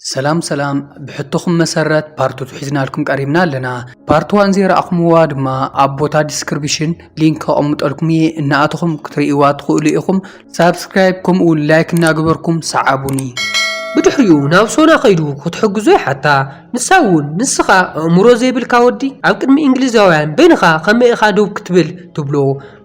ሰላም ሰላም ብሕቶኹም መሰረት ፓርት ቱ ሒዝናልኩም ቀሪብና ኣለና ፓርት ዋን ዘይረኣኹምዋ ድማ ኣብ ቦታ ዲስክሪፕሽን ሊንክ ከቐምጠልኩም እየ እናኣተኹም ክትርእይዋ ትኽእሉ ኢኹም ሳብስክራይብ ከምኡ እውን ላይክ እናገበርኩም ሰዓቡኒ ብድሕሪኡ ናብ ሶና ከይዱ ክትሕግዞ ይሓታ ንሳ እውን ንስኻ ኣእምሮ ዘይብልካ ወዲ ኣብ ቅድሚ እንግሊዛውያን በይንኻ ከመይ ኢኻ ደው ክትብል ትብሎ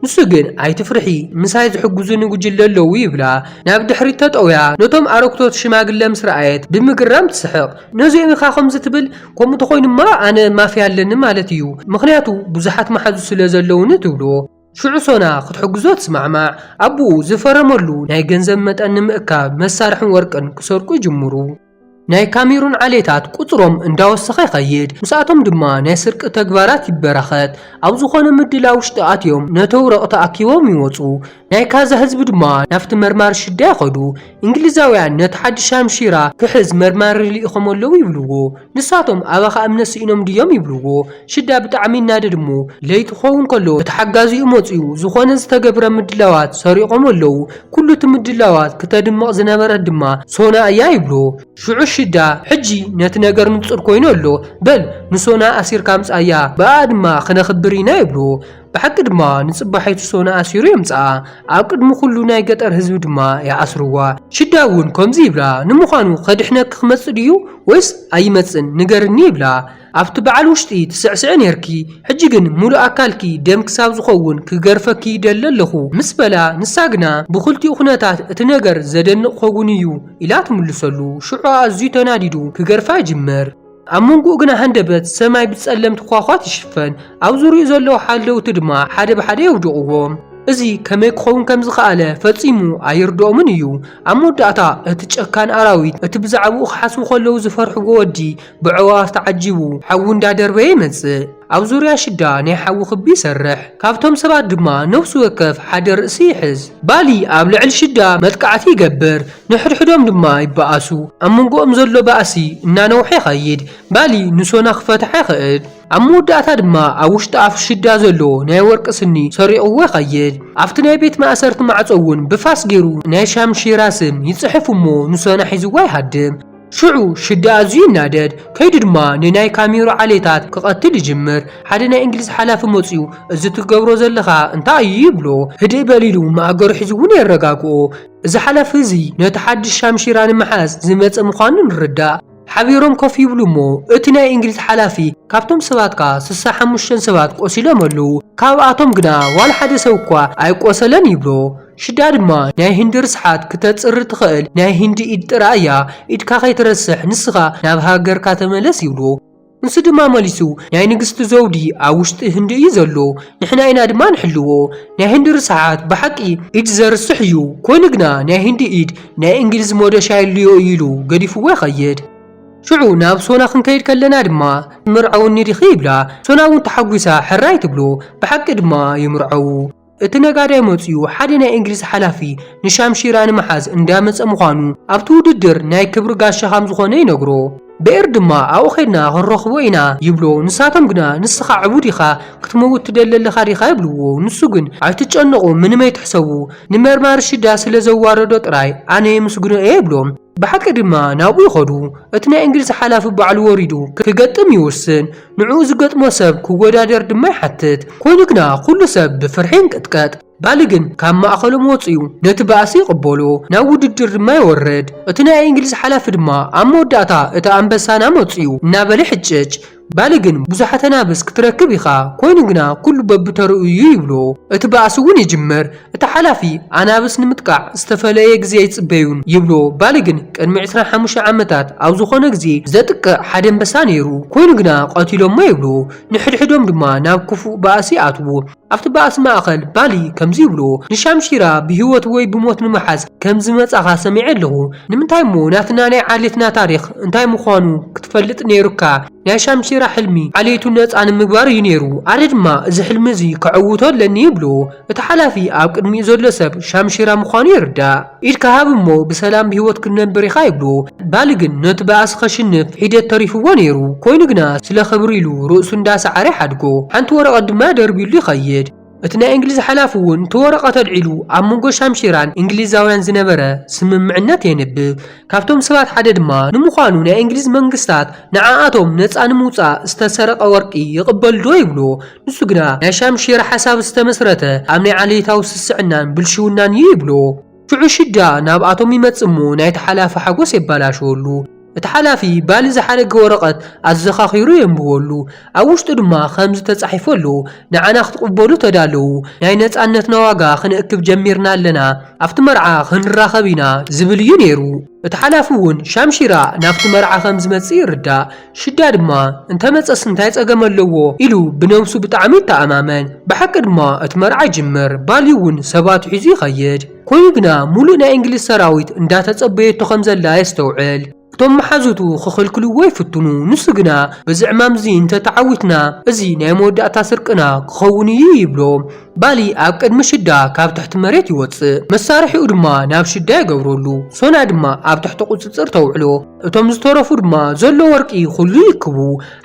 ንሱ ግን ኣይትፍርሒ ምሳይ ዝሕግዙኒ ጉጅለ ኣለዉ ይብላ። ናብ ድሕሪት ተጠውያ ነቶም ኣረግቶት ሽማግለ ምስ ረኣየት ብምግራም ትስሕቕ። ነዚኦም ኢኻ ከምዚ ትብል? ከምኡ ተኾይኑማ ኣነ ማፍያ ኣለኒ ማለት እዩ፣ ምኽንያቱ ብዙሓት መሓዙት ስለ ዘለዉኒ ትብሎ። ሽዑ ሶና ክትሕግዞ ትስማዕማዕ። ኣቡኡ ዝፈረመሉ ናይ ገንዘብ መጠን ንምእካብ መሳርሕን ወርቅን ክሰርቁ ይጅምሩ። ናይ ካሜሩን ዓሌታት ቁጽሮም እንዳወሰኸ ይኸይድ፣ ምስኣቶም ድማ ናይ ስርቂ ተግባራት ይበራኸት። ኣብ ዝኾነ ምድላው ውሽጢ ኣትዮም ነተውረቕ ተኣኪቦም ይወጹ። ናይ ካዛ ህዝቢ ድማ ናብቲ መርማሪ ሽዳ ይኸዱ። እንግሊዛውያን ነቲ ሓዲ ሻምሺራ ክሕዝ መርማሪ ልኢኾም ኣለዉ ይብልዎ። ንሳቶም ኣባኻ እምነት ስኢኖም ድዮም ይብልዎ። ሽዳ ብጣዕሚ ይናደድ እሞ ለይቲ ክኸውን ከሎ እቲ ሓጋዚኡ መጽዩ ዝኾነ ዝተገብረ ምድላዋት ሰሪቖም ኣለዉ፣ ኩሉ እቲ ምድላዋት ክተድምቕ ዝነበረት ድማ ሶና እያ ይብሎ። ሽዑ ሽዳ ሕጂ ነቲ ነገር ንጹር ኮይኑ ኣሎ፣ በል ንሶና ኣሲርካ ኣምጽኣያ፣ ብኣኣ ድማ ክነኽብር ኢና ይብሎ። ብሓቂ ድማ ንጽባሒቱ ሶና ኣሲሩ የምጽኣ፣ ኣብ ቅድሚ ኩሉ ናይ ገጠር ህዝቢ ድማ ይኣስርዋ። ሽዳ እውን ከምዚ ይብላ፣ ንምዃኑ ከድሕነኪ ክመጽእ ድዩ ወይስ ኣይመጽእን ንገርኒ ይብላ። ኣብቲ በዓል ውሽጢ ትስዕስዒ ኔርኪ ሕጂ ግን ሙሉእ ኣካልኪ ደም ክሳብ ዝኸውን ክገርፈኪ ይደሊ ኣለኹ ምስ በላ ንሳ ግና ብኽልቲኡ ኩነታት እቲ ነገር ዘደንቕ ኾጉን እዩ ኢላ ትምልሰሉ ሽዑ ኣዝዩ ተናዲዱ ክገርፋ ይጅምር ኣብ መንጉኡ ግና ሃንደበት ሰማይ ብጸለምቲ ኳዃት ይሽፈን ኣብ ዙርይኡ ዘለዉ ሓለውቲ ድማ ሓደ ብሓደ የውድቕዎም እዚ ከመይ ክኸውን ከም ዝኸኣለ ፈጺሙ ኣይርድኦምን እዩ ኣብ መወዳእታ እቲ ጨካን ኣራዊት እቲ ብዛዕብኡ ክሓስቡ ከለዉ ዝፈርሕዎ ወዲ ብዕዋፍ ተዓጂቡ ሓዊ እንዳደርበየ ይመጽእ። ኣብ ዙርያ ሽዳ ናይ ሓዊ ክቢ ይሰርሕ። ካብቶም ሰባት ድማ ነፍሲ ወከፍ ሓደ ርእሲ ይሕዝ። ባሊ ኣብ ልዕሊ ሽዳ መጥቃዕቲ ይገብር፣ ንሕድሕዶም ድማ ይበኣሱ። ኣብ መንጎኦም ዘሎ ባእሲ እናነውሐ ይኸይድ፣ ባሊ ንሶና ክፈትሓ ይኽእል። ኣብ መወዳእታ ድማ ኣብ ውሽጢ ኣፍ ሽዳ ዘሎ ናይ ወርቂ ስኒ ሰሪቕዎ ይኸይድ። ኣብቲ ናይ ቤት ማእሰርቲ ማዕጾ እውን ብፋስ ገይሩ ናይ ሻምሺራ ስም ይጽሕፍ እሞ ንሶና ሒዝዋ ይሃድም። ሽዑ ሽዲ ኣዝዩ ይናደድ፣ ከይዱ ድማ ንናይ ካሜሩ ዓሌታት ክቐትል ይጅምር። ሓደ ናይ እንግሊዝ ሓላፊ መጺኡ እዚ ትገብሮ ዘለኻ እንታይ እዩ ይብሎ። ህድእ በል ኢሉ ማእገሩ ሒዙ እውን የረጋግኦ። እዚ ሓላፊ እዚ ነቲ ሓድሽ ሻምሺራ ንምሓዝ ዝመጸ ምዃኑ ንርዳእ። ሓቢሮም ኮፍ ይብሉ እሞ እቲ ናይ እንግሊዝ ሓላፊ ካብቶም ሰባትካ ስሳ ሓሙሽተ ሰባት ቆሲሎም ኣለዉ፣ ካብኣቶም ግና ዋላ ሓደ ሰብ እኳ ኣይቆሰለን ይብሎ። ሽዳ ድማ ናይ ሂንዲ ርስሓት ክተጽሪ ትኸእል ናይ ሂንዲ ኢድ ጥራይ እያ ኢድካ ከይትረስሕ ንስኻ ናብ ሃገርካ ተመለስ ይብሎ ንሱ ድማ መሊሱ ናይ ንግስቲ ዘውዲ ኣብ ውሽጢ ህንዲ እዩ ዘሎ ንሕና ኢና ድማ ንሕልዎ ናይ ሂንዲ ርስሓት ብሓቂ ኢድ ዘርስሕ እዩ ኮይኑ ግና ናይ ሂንዲ ኢድ ናይ እንግሊዝ ሞደሻ የልዮ እዩ ኢሉ ገዲፍዎ ይኸይድ ሽዑ ናብ ሶና ክንከይድ ከለና ድማ ትምርዐውኒ ዲኺ ይብላ ሶና እውን ተሓጒሳ ሕራይ ትብሎ ብሓቂ ድማ ይምርዐዉ። እቲ ነጋዳይ መጺኡ ሓደ ናይ እንግሊዝ ሓላፊ ንሻምሺራ ንምሓዝ እንዳመጸ ምዃኑ ኣብቲ ውድድር ናይ ክብሪ ጋሻ ከም ዝኾነ ይነግሮ። በኤር ድማ ኣብኡ ኬድና ክንረኽቦ ኢና ይብሎ ንሳቶም ግና ንስኻ ዕቡድ ኢኻ ክትመውት ትደሊ ኣለኻ ዲኻ ይብልዎ ንሱ ግን ኣይትጨነቑ ምንም ኣይትሕሰቡ ንመርማሪ ሽዳ ስለ ዘዋረዶ ጥራይ ኣነ የምስግኖ እየ ይብሎም ብሓቂ ድማ ናብኡ ይኸዱ እቲ ናይ እንግሊዝ ሓላፊ ባዕሉ ወሪዱ ክገጥም ይውስን ንዕኡ ዝገጥሞ ሰብ ክወዳደር ድማ ይሓትት። ኮይኑ ግና ኩሉ ሰብ ብፍርሒ ይንቅጥቀጥ። ባሊ ግን ካብ ማእኸሎም ወፂኡ ነቲ ባእሲ ይቕበሎ። ናብ ውድድር ድማ ይወርድ። እቲ ናይ እንግሊዝ ሓላፊ ድማ ኣብ መወዳእታ እቲ ኣንበሳና መፂኡ እናበለ ይሕጭጭ። ባሊ ግን ብዙሓት ኣናብስ ክትረክብ ኢኻ፣ ኮይኑ ግና ኩሉ በብተርኡ እዩ ይብሎ። እቲ ባእሲ እውን ይጅምር። እቲ ሓላፊ፣ ኣናብስ ንምጥቃዕ ዝተፈለየ ግዜ ኣይጽበዩን ይብሎ፣ ባሊ ግን ቅድሚ ዕስራን ሓሙሽተን ዓመታት ኣብ ዝኾነ ግዜ ዘጥቅዕ ሓደ ኣንበሳ ነይሩ፣ ኮይኑ ግና ቀቲሎሞ ይብሎ፣ ንሕድሕዶም ድማ ናብ ክፉእ ባእሲ ይኣትዉ። ኣብቲ ባእሲ ማእከል፣ ባሊ ከምዚ ይብሎ፣ ንሻምሺራ ብህይወት ወይ ብሞት ንምሓዝ ከም ዝመጻኻ ሰሚዐ ኣለኹ፣ ንምንታይ'ሞ ናትና ናይ ዓሌትና ታሪኽ እንታይ ምዃኑ ክትፈልጥ ነይሩካ፣ ናይ ሻምሺራ ሕልሚ ዓሌቱ ነጻ ንምግባር እዩ ነይሩ፣ ኣነ ድማ እዚ ሕልሚ እዚ ከዕውቶ ኣለኒ ይብሎ። እቲ ሓላፊ ኣብ ቅድሚኡ ዘሎ ሰብ ሻምሺራ ምዃኑ ይርዳእ። ኢድካ ሃብ እሞ ብሰላም ብህይወት ክትነብር ኢኻ ይብሎ። ባሊ ግን ነቲ ባእሲ ከሽንፍ ሒደት ተሪፍዎ ነይሩ። ኮይኑ ግና ስለ ክብሪ ኢሉ ርእሱ እንዳ ሰዓረ ይሓድጎ። ሓንቲ ወረቐት ድማ ደርብዩሉ ይኸይድ። እቲ ናይ እንግሊዝ ሓላፊ እውን እቲ ወረቐት ኣልዒሉ ኣብ መንጎ ሻምሺራን እንግሊዛውያን ዝነበረ ስምምዕነት የንብብ። ካብቶም ሰባት ሓደ ድማ ንምዃኑ ናይ እንግሊዝ መንግስታት ንዓኣቶም ነጻ ንምውጻእ ዝተሰረቐ ወርቂ ይቕበልዶ ይብሎ። ንሱ ግና ናይ ሻምሽየር ሓሳብ ዝተመስረተ ኣብ ናይ ዓሌታዊ ስስዕናን ብልሽውናን እዩ ይብሎ። ሽዑ ሽዳ ናብ ኣቶም ይመጽእ እሞ ናይቲ ሓላፊ ሓጎስ የባላሽወሉ። እቲ ሓላፊ ባሊ ዝሓደገ ወረቐት ኣዘኻኺሩ የንብበሉ። ኣብ ውሽጡ ድማ ከምዚ ተጻሒፉ ኣሎ፣ ንዓና ክትቕበሉ ተዳለዉ፣ ናይ ነጻነትና ዋጋ ክንእክብ ጀሚርና ኣለና፣ ኣብቲ መርዓ ክንራኸብ ኢና ዝብል እዩ ነይሩ። እቲ ሓላፊ እውን ሻምሺራ ናብቲ መርዓ ከም ዝመጽእ ይርዳእ። ሽዳ ድማ እንተ መጸስ እንታይ ጸገም ኣለዎ ኢሉ ብነብሱ ብጣዕሚ ይተኣማመን። ብሓቂ ድማ እቲ መርዓ ይጅምር፣ ባልዩ እውን ሰባቱ ሒዙ ይኸይድ። ኮይኑ ግና ሙሉእ ናይ እንግሊዝ ሰራዊት እንዳ ተጸበየቶ ከም ዘላ የስተውዕል። እቶም መሓዙቱ ክኽልክልዎ ይፍትኑ፣ ንሱ ግና በዚ ዕማም እዚ እንተ ተዓዊትና እዚ ናይ መወዳእታ ስርቅና ክኸውን እዩ ይብሎም። ባሊ ኣብ ቅድሚ ሽዳ ካብ ትሕቲ መሬት ይወጽእ። መሳርሒኡ ድማ ናብ ሽዳ ይገብረሉ፣ ሶና ድማ ኣብ ትሕቲ ቁጽጽር ተውዕሎ። እቶም ዝተረፉ ድማ ዘሎ ወርቂ ዅሉ ይእክቡ።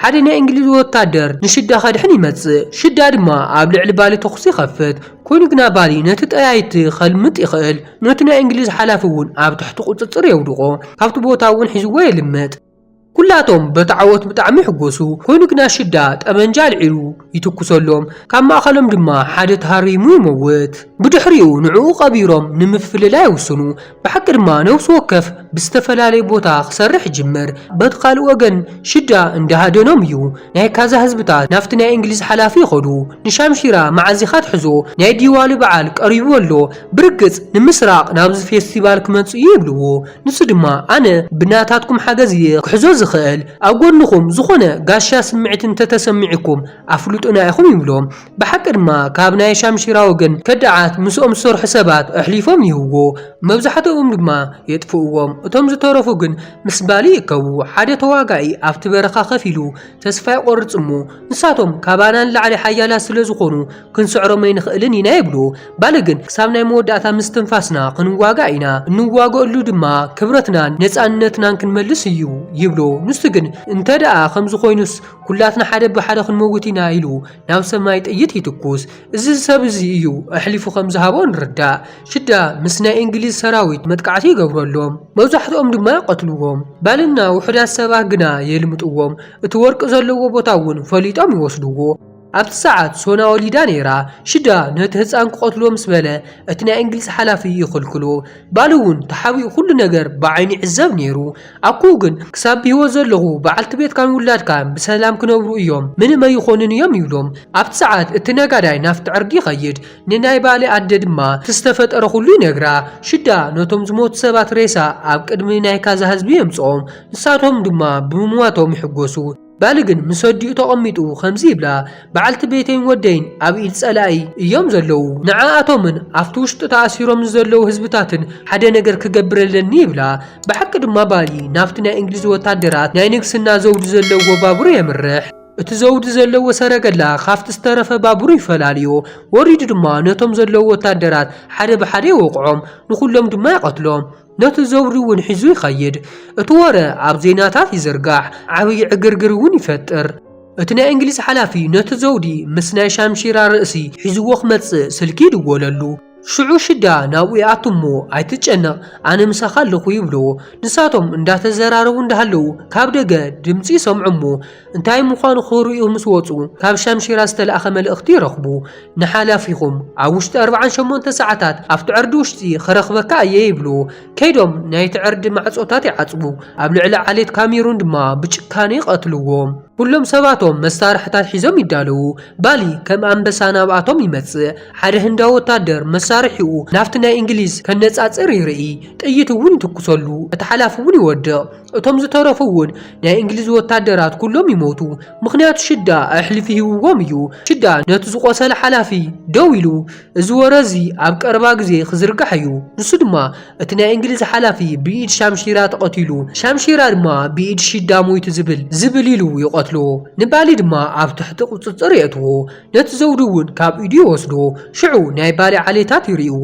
ሓደ ናይ እንግሊዝ ወታደር ንሽዳ ከድሕን ይመጽእ። ሽዳ ድማ ኣብ ልዕሊ ባሊ ተዅሲ ይኸፍት። ኰይኑ ግና ባሊ ነቲ ጠያይቲ ከልምጥ ይኽእል። ነቲ ናይ እንግሊዝ ሓላፊ እውን ኣብ ትሕቲ ቍጽጽር የውድቖ። ካብቲ ቦታ እውን ሒዝዎ የልምጥ። ኵላቶም በቲ ዓወት ብጣዕሚ ይሕጐሱ። ኰይኑ ግና ሽዳ ጠበንጃ ኣልዒሉ ይትኵሰሎም። ካብ ማእከሎም ድማ ሓደ ተሃሪሙ ይመውት። ብድሕሪኡ ንዕኡ ቀቢሮም ንምፍልላይ ይውስኑ። ብሓቂ ድማ ነብሲ ወከፍ ብዝተፈላለየ ቦታ ክሰርሕ ይጅምር በቲ ካልእ ወገን ሽዳ እንዳ ሃደኖም እዩ ናይ ካዛ ህዝብታት ናብቲ ናይ እንግሊዝ ሓላፊ ይኸዱ ንሻምሺራ መዓዝ ኢኻ ትሕዞ ናይ ዲዋሊ በዓል ቀሪቡ ኣሎ ብርግጽ ንምስራቕ ናብዚ ፌስቲቫል ክመጽእ እዩ ይብልዎ ንሱ ድማ ኣነ ብናታትኩም ሓገዝ እየ ክሕዞ ዝኽእል ኣብ ጎድንኹም ዝኾነ ጋሻ ስምዒት እንተተሰሚዑኩም ኣፍልጡና ኢኹም ይብሎም ብሓቂ ድማ ካብ ናይ ሻምሺራ ወገን ከዳዓት ምስኦም ዝሰርሑ ሰባት ኣሕሊፎም ይህብዎ መብዛሕትኦም ድማ የጥፍእዎም እቶም ዝተረፉ ግን ምስ ባሊ ይእከቡ ሓደ ተዋጋኢ ኣብቲ በረኻ ከፍ ኢሉ ተስፋ ይቆርጽ እሞ ንሳቶም ካባና ንላዕሊ ሓያላት ስለ ዝኾኑ ክንስዕሮም ኣይንኽእልን ኢና ይብሉ ባሊ ግን ክሳብ ናይ መወዳእታ ምስ ትንፋስና ክንዋጋእ ኢና እንዋገእሉ ድማ ክብረትናን ነጻነትናን ክንመልስ እዩ ይብሎ ንሱ ግን እንተደኣ ከምዚ ኮይኑስ ኩላትና ሓደ ብሓደ ክንመውት ኢና ኢሉ ናብ ሰማይ ጥይት ይትኩስ እዚ ሰብ እዚ እዩ ኣሕሊፉ ከም ዝሃቦ ንርዳእ ሽዳ ምስ ናይ እንግሊዝ ሰራዊት መጥቃዕቲ ይገብረሎም መብዛሕትኦም ድማ ይቐትልዎም ባልና ውሑዳት ሰባት ግና የልምጥዎም እቲ ወርቂ ዘለዎ ቦታ እውን ፈሊጦም ይወስድዎ ኣብቲ ሰዓት ሶና ወሊዳ ነይራ ሽዳ ነቲ ህፃን ክቐትሎ ምስ በለ እቲ ናይ እንግሊዝ ሓላፊ ይኽልክሎ ባል እውን ተሓቢኡ ኩሉ ነገር ብዓይኑ ይዕዘብ ነይሩ። ኣኩኡ ግን ክሳብ ብህይወት ዘለኹ በዓልቲ ቤትካን ውላድካን ብሰላም ክነብሩ እዮም፣ ምንም ኣይኾኑን እዮም ይብሎም። ኣብቲ ሰዓት እቲ ነጋዳይ ናብቲ ዕርዲ ይኸይድ፣ ንናይ ባሌ ኣደ ድማ እቲ ዝተፈጠረ ኩሉ ይነግራ። ሽዳ ነቶም ዝሞቱ ሰባት ሬሳ ኣብ ቅድሚ ናይ ካዛ ህዝቢ የምጽኦም፣ ንሳቶም ድማ ብምሟቶም ይሕጎሱ። ባሊ ግን ምስ ኣዲኡ ተቐሚጡ ከምዚ ይብላ፣ በዓልቲ ቤተይን ወደይን ኣብ ኢድ ጸላኢ እዮም ዘለዉ። ንዓኣቶምን ኣብቲ ውሽጢ ተኣሲሮም ንዘለዉ ህዝብታትን ሓደ ነገር ክገብር ኣለኒ ይብላ። ብሓቂ ድማ ባሊ ናብቲ ናይ እንግሊዝ ወታደራት ናይ ንግስና ዘውዲ ዘለዉዎ ባቡር የምርሕ። እቲ ዘውዲ ዘለዎ ሰረገላ ካብቲ ዝተረፈ ባቡር ይፈላልዮ። ወሪዱ ድማ ነቶም ዘለዉ ወታደራት ሓደ ብሓደ ይወቕዖም፣ ንኹሎም ድማ ይቐትሎም። ነቲ ዘውዲ እውን ሒዙ ይኸይድ። እቲ ወረ ኣብ ዜናታት ይዝርጋሕ፣ ዓብዪ ዕግርግር እውን ይፈጥር። እቲ ናይ እንግሊዝ ሓላፊ ነቲ ዘውዲ ምስ ናይ ሻምሺራ ርእሲ ሒዝዎ ክመጽእ ስልኪ ይድወለሉ። ሽዑ ሽዳ ናብኡ ይኣቱ እሞ ኣይትጨነቕ ኣነ ምሳኻ ኣለኹ ይብሎ። ንሳቶም እንዳተዘራረቡ እንዳሃለዉ ካብ ደገ ድምጺ ይሰምዑ እሞ እንታይ ምዃኑ ክርእዩ ምስ ወጹ፣ ካብ ሻምሺራ ዝተላእከ መልእኽቲ ይረኽቡ። ንሓላፊኹም ኣብ ውሽጢ ኣርብዓን ሸሞንተ ሰዓታት ኣብቲ ዕርዲ ውሽጢ ክረኽበካ እየ ይብሉ። ከይዶም ናይቲ ዕርዲ ማዕጾታት ይዓጽዉ፣ ኣብ ልዕሊ ዓሌት ካሜሩን ድማ ብጭካነ ይቐትልዎም። ኩሎም ሰባቶም መሳርሕታት ሒዞም ይዳለዉ። ባሊ ከም ኣንበሳ ናብኣቶም ይመጽእ። ሓደ ህንዳዊ ወታደር መሳርሒኡ ናብቲ ናይ እንግሊዝ ከነጻጽር ይርኢ፣ ጥይት እውን ይትኩሰሉ፣ እቲ ሓላፊ እውን ይወድቕ። እቶም ዝተረፉ እውን ናይ እንግሊዝ ወታደራት ኩሎም ይሞቱ ምኽንያቱ ሽዳ ኣሕሊፊ ሂብዎም እዩ ሽዳ ነቲ ዝቆሰለ ሓላፊ ደው ኢሉ እዚ ወረ እዚ ኣብ ቀረባ ግዜ ክዝርጋሕ እዩ ንሱ ድማ እቲ ናይ እንግሊዝ ሓላፊ ብኢድ ሻምሺራ ተቐቲሉ ሻምሺራ ድማ ብኢድ ሽዳ ሞይቱ ዝብል ዝብል ኢሉ ይቐትሎ ንባሊ ድማ ኣብ ትሕቲ ቁጽጽር የእትዎ ነቲ ዘውዲ እውን ካብ ኢዱ ይወስዶ፣ ሽዑ ናይ ባሊ ዓሌታት ይርእይዎ፣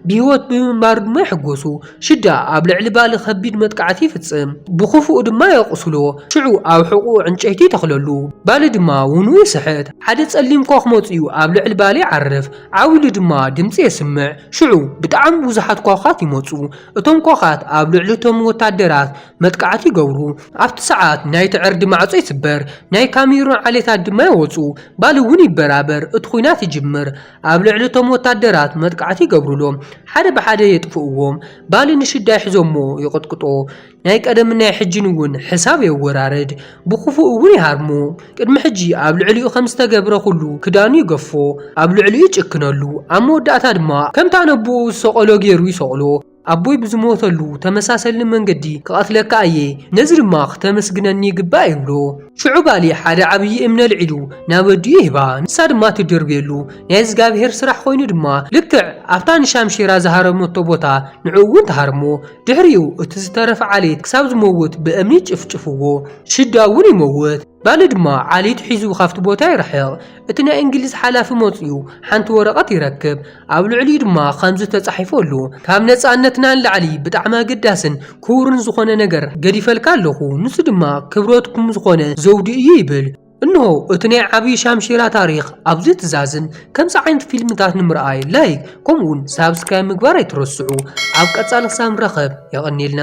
ብህይወት ብምንባሩ ድማ ይሕጎሱ። ሽዳ ኣብ ልዕሊ ባሊ ከቢድ መጥቃዕቲ ይፍጽም፣ ብኽፉኡ ድማ የቑስሎ፣ ሽዑ ኣብ ሕቖኡ ዕንጨይቲ ይተኽለሉ። ባሊ ድማ ውንኡ ይስሕት፣ ሓደ ጸሊም ኮኽ መጺኡ ኣብ ልዕሊ ባሊ ይዓርፍ፣ ዓው ኢሉ ድማ ድምጺ የስምዕ፣ ሽዑ ብጣዕሚ ብዙሓት ኮኻት ይመጹ፣ እቶም ኮኻት ኣብ ልዕሊ እቶም ወታደራት መጥቃዕቲ ይገብሩ። ኣብቲ ሰዓት ናይቲ ዕርዲ ማዕጾ ይስበር፣ ናይ ካሜሩን ዓሌታት ድማ ይወጹ፣ ባሊ እውን ይበራበር፣ እቲ ኲናት ይጅምር። ኣብ ልዕሊ እቶም ወታደራት መጥቃዕቲ ይገብሩሎም፣ ሓደ ብሓደ የጥፍእዎም፣ ባሊ ንሽዳ ይሕዞምዎ ይቕጥቅጦ፣ ናይ ቀደምን ናይ ሕጂን እውን ሕሳብ የወራርድ፣ ብኽፉእ እውን ይሃርሞ። ቅድሚ ሕጂ ኣብ ልዕሊኡ ከም ዝተገብረ ዅሉ ክዳኑ ይገፎ፣ ኣብ ልዕሊኡ ይጭክነሉ፣ ኣብ መወዳእታ ድማ ከምታ ነቦኡ ዝሰቐሎ ገይሩ ይሰቕሎ። ኣቦይ ብዝሞተሉ ተመሳሰሊ መንገዲ ክቐትለካ እየ፣ ነዚ ድማ ክተመስግነኒ ይግባእ ይብሎ። ሽዑ ባሊ ሓደ ዓብዪ እምኒ ኣልዒሉ ናብ ኣዲኡ ይህባ፣ ንሳ ድማ ትድርብየሉ። ናይ እዝጋብሄር ስራሕ ኮይኑ ድማ ልክዕ ኣብታ ንሻምሺራ ዝሃረመቶ ቦታ ንዕኡ እውን ትሃርሞ። ድሕሪኡ እቲ ዝተረፈ ዓሌት ክሳብ ዝመውት ብእምኒ ይጭፍጭፍዎ። ሽዳ እውን ይመውት። ባሊ ድማ ዓሌቱ ሒዙ ካብቲ ቦታ ይርሕቕ። እቲ ናይ እንግሊዝ ሓላፊ መፂኡ ሓንቲ ወረቐት ይረክብ። ኣብ ልዕሊኡ ድማ ከምዚ ተጻሒፉ ኣሎ፣ ካብ ነጻነትና ንላዕሊ ብጣዕሚ ኣገዳስን ክቡርን ዝኾነ ነገር ገዲፈልካ ኣለኹ፣ ንሱ ድማ ክብረትኩም ዝኾነ ዘውዲ እዩ ይብል። እንሆ እቲ ናይ ዓብይ ሻምሺራ ታሪኽ ኣብዚ ትዛዝም። ከምዚ ዓይነት ፊልምታት ንምርኣይ ላይክ ከምኡ ውን ሳብስክራይብ ምግባር ኣይትረስዑ። ኣብ ቀጻሊ ክሳብ ንራኸብ የቐንየልና።